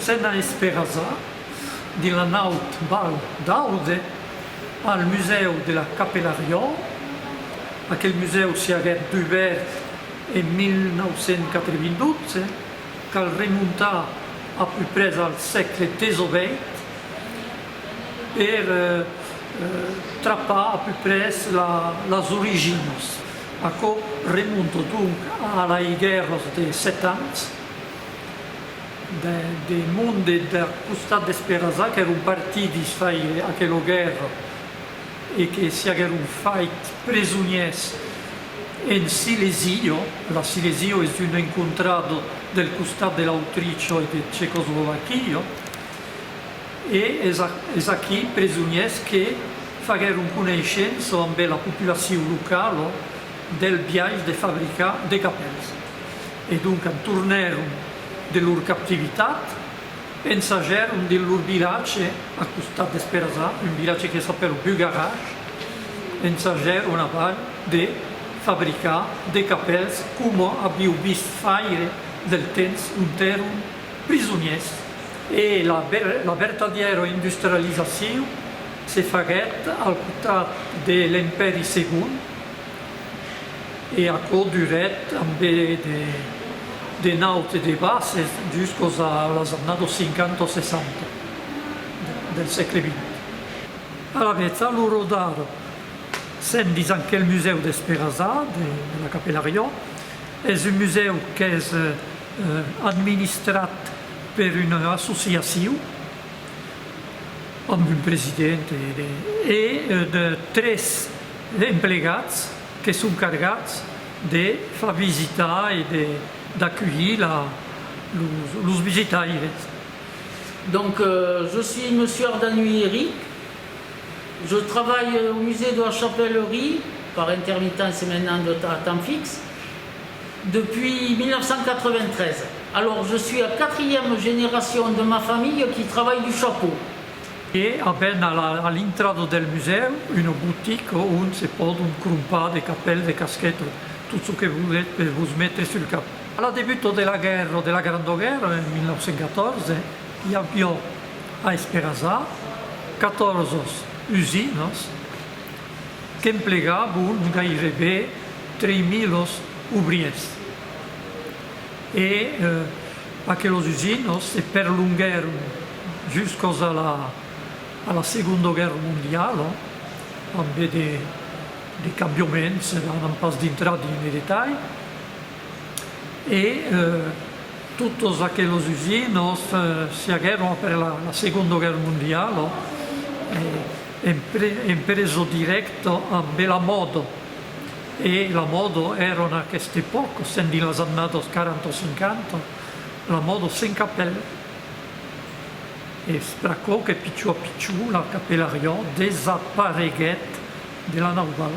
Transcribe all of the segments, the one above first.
Sena esperasar, dins la naut Val d'Aude, al musèu de la Capelariòu, aquel musèu siaguèt dubèrt en 1992, cal remontar a puprès al sègle 18, per trapar a peu pres las originas. Aquò remonta donc a lei guèrras de sèt ans de monde deth costat d'Esperançà qu'èron partidis faire aquela guèrra e que s'i aguèron fait presonièrs en Silesio. La Silesio es un encontrado del costat de l'Autricho e de Checoslovaquia. E es aquí presoniers que faguèron coneishença ambe la populacion locala del biais de fabricar de capèls. E doncas tornèron de lor captivitat, ensajèron dins lor vilatge a costat d'Esperazà, un vilatge que s'apèla Bugarach, ensajèron aval de fabricar de capèls coma aviu vist faire del temps ont èron prisoniers e la vertadièra industrializacion se faguèt al costat de l'Empèri Segon e aquò durèt ambe de naut e de bases juscos a las annados 50 o 60 del sègle xx. Alavetz a l'ora d'ara sèm dins aquel musèu d'Esperançà de la Capella Riò, es un musèu qu'es administrat per una associacion amb un president e de tres emplegats que son cargats de far visitar e d'aculhir los visitaires. Donc je suis monsieur Ardanuy Eric, je travaille au musée de la Chapellerie par intermittence et maintenant à temps fixe. Depuis 1993. Alors je suis la quatrième génération de ma famille qui travaille du chapeau. E avèm a l'intrada del musèu una botica ont se pòdon crompar de capèls, de casquetas, tot çò que volètz per vos metre sul cap. A la debuta de la guèrra, de la Granda Guèrra, en 1914, i aviá a Esperança 14 usinas. qu'emplegabon gairebe 3.000 obriers e pas que los usinhs se perlonguèron juscos a la Segonda Guèrra Mondiala amb de cambioments, n'an pas dintrat dins de detalhs, e totes aqueles usinhs se aguèron après la Segonda Guèrra Mondiala. Empreso dirècta amb Bela Mòda. E La Mòda èra en aquesta epòca, sent dins las annadas 40 o 50, la mòda sens capèl. Es pr'aquò que pichon a pichon la capelariá desapareguèt de la nauvala.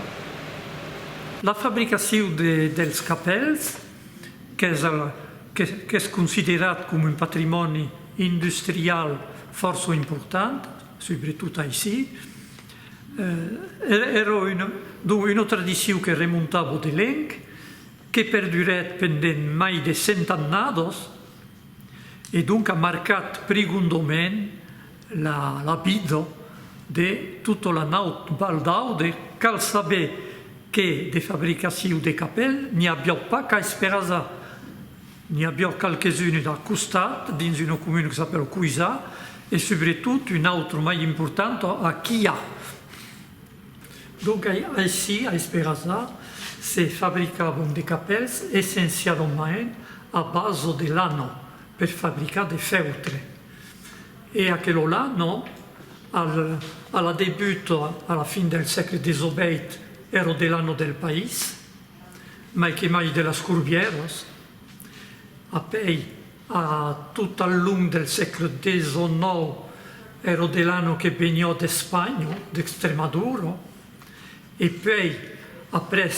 La fabricacion dels capèls, qu'es considerat coma un patrimòni industrial fòrça important, Subretot aicí, èra donc una tradicion que remonta a Bodelenc, que perdurèt pendent mai de cent annadas e donc a marcat prigondament la vida de tota la naut Val d'Aude. Cal saber que de fabricacion de capèl n'i aviá pas qu'a Esperança, N'i a biò qualques-unes d'a costat, dins una comuna que s'apèla Coisà, e subretot un autre mai important a Quilhà. Donc aicí, a Esperasà, se fabricavan de capèls essencialament a basa de lana per fabricar de fèutre. E aquela lana, a la debut, a la fin del sègle 18, èra de lana del país. mai que mai de las corbièras, apèi a tot al long del sègle xix, ero de l'anno que venió d'Espanha, d'Extremadura, e puèi après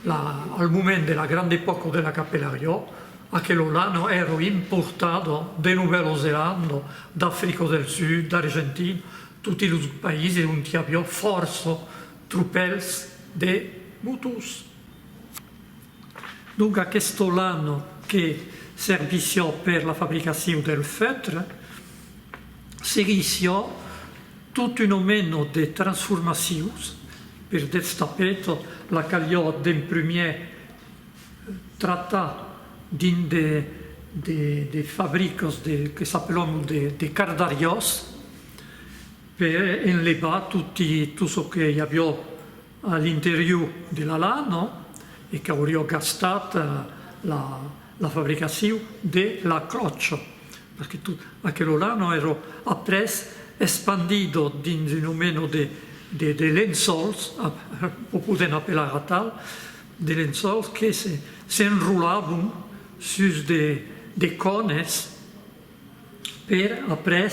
la al moment de la grande époque de la capelariò, aquelo l'anno ero importado de Novèlo Zelanda, d'Africa del Sud, d'Argentina, toti los païses ont i avió fòrça Tropèls de motors. Donc aqueste lan que servissió per la fabricacion del feutre, seguissió tot un omeno de transformacions, per destapet la calió d'en prumier tratar dins de fabricos de que s'apelon de cardariós, per enlevar tot çò que i avió a l'interior de la lana e qu'aurió gastat la fabricacion de la cròcha, perque tot aquelo lana èra après espandido dins un omeno de lençòls, o podèm apelar atal, de lençòls que s'enrolavon sus de cònes, per après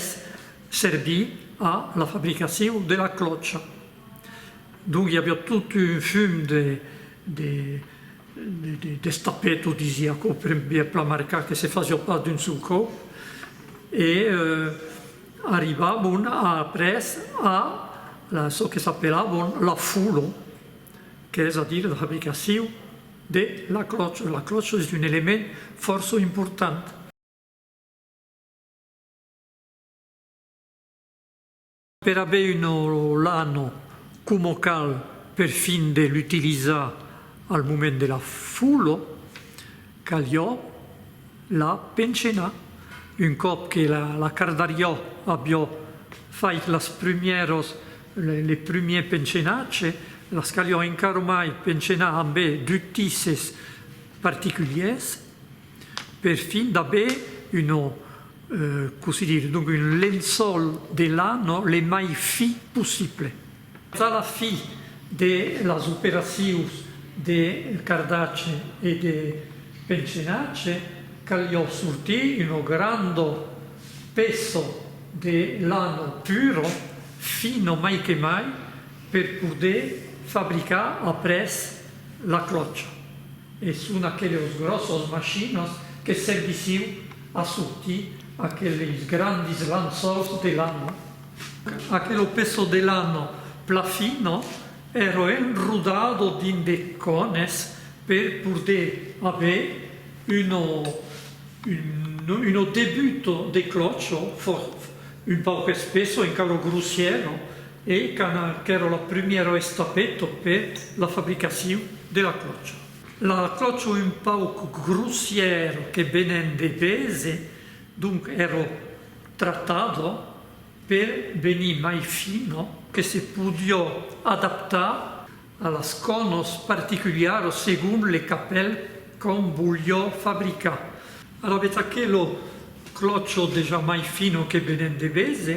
servir a la fabricacion de la clòcha. Donc i aviá tot un fum de de de destapet o disi aquò per bien plamarcar que se fasiá pas d'un sol còp e arribavon après a çò que s'apelavon la folo qu'es a dire la fabricacion de la clòcha. La clòcha es un element fòrça important. Per aver un olano coma cal per fin de l'utilizar al moment de la folo, calió la penchenar. Un còp que la cardarió avió fait las prumièros le prumier penchenatge, las calió encaromai penchenar ambé d'utisses particuliers. Per fin d'aver una, cossí dire, donc un lençòl de la, no? le mai fi possible. A la fi de las operacions de cardatge e de pencenatge, calió sortir una granda peça de lana pura, fina mai que mai, per poder fabricar après la clòcha. E son aqueles gròsses machinas que servissiu a sortir aqueles grandis lançòls de lana. Aquelo peço de lana pla fina èra enrodado dins de cònes per poder aver una una debut de clòcho fòrt un pauc espessa, encara grossièra, E cana qu'èra la primièra estapeta per la fabricacion de la clòcha. La clòcha un pauc grossièra que venèn de Bèze, donc èra tratada per venir mai fina, que se podiá adaptar a las cònas particuliaras segon le capèl qu'òm voliá fabricar. Alavetz aquela clòcha dejà mai fina que venèn de Bèze.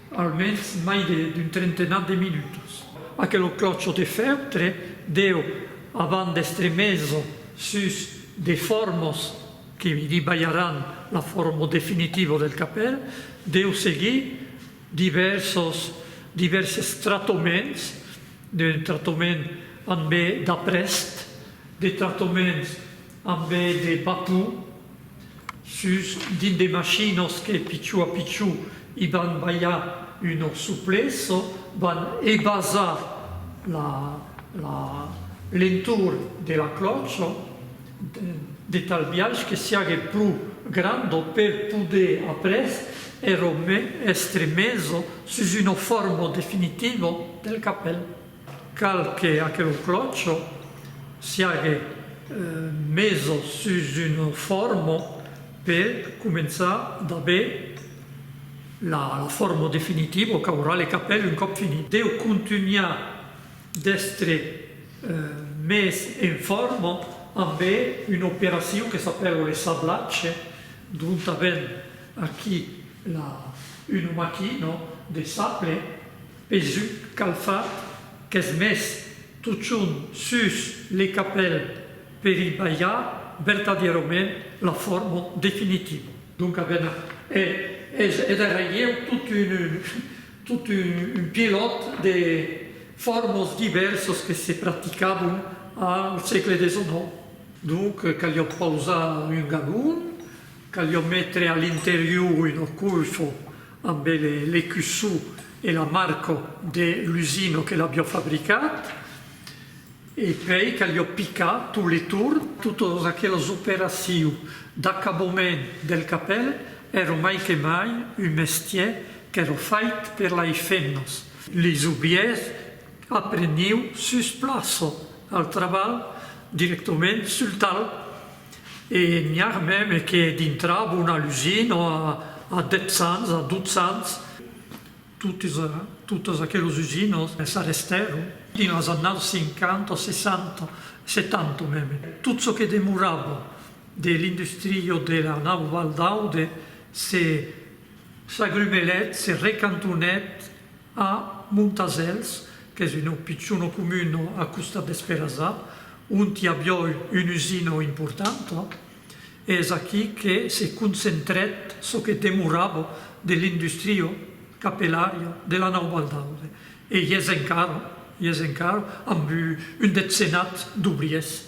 Almens mai d'un trentenat de minutas. Aquelo clocho de fèutre deu avant d'èstre meso sus de formos que li balharàn la forma definitiva del capèl, deu seguir divèrsos divèrses tratoments, de tratoments ambe d'aprèst, de tratoments Amb de batons sus dins de machinos que pichó a pichó i van balhar un orso pleso, van ebasar la lentor de la clocha de tal biais que siague pro granda per poder après èra èstre mesa sus una forma definitiva del capèl. Cal que aquelo clòcho siague meso sus un formo per començar d'aver la formo definitiva qu'aurà le capèl un còp finit. Deu contunhar d'èstre mes en forma ambe una operacion que s'apèla le sablatge, dont avèm aquí una maquina de sable. Pesuc calfat qu'es mes totjorn sus le capèl per i balhar vertadièrament la fòrma definitiva. Donc a ben e es e darrerieu tot un tot un un pilòt de fòrmas divèrsas que se practicabon al sègle xix. Donc caliá pausar un galon, caliá metre a l'interior una coifa Amb le cussó e la marca de l'usina que l'avió fabricat. E pei calió picar tot le torn. Totas aquelas operacion d'acabament del capèl èra mai que mai un mestier qu'èra fait per lai femnas. Les obriers apreniu sus plaça al trabalh directament sul talh. E n'i a mème que dintrab una lusina a dètz ans, a dotz ans, totes aqueles usinas s'arrestèron dins las annadas cinquanta, sessanta, setanta mème. Tot çò que demorava de l'industria de la nau Val d'Aude se s'agrumelèt, se recantonèt, A Montasèls, qu'es una pichona comuna a costat d'Esperazà, ont i avió una usina importanta, es aquí que se concentrèt çò que demorava de l'industria capelària de la Nau Baldaude, e i es encara, i es encara, amb un detzenat d'obriers.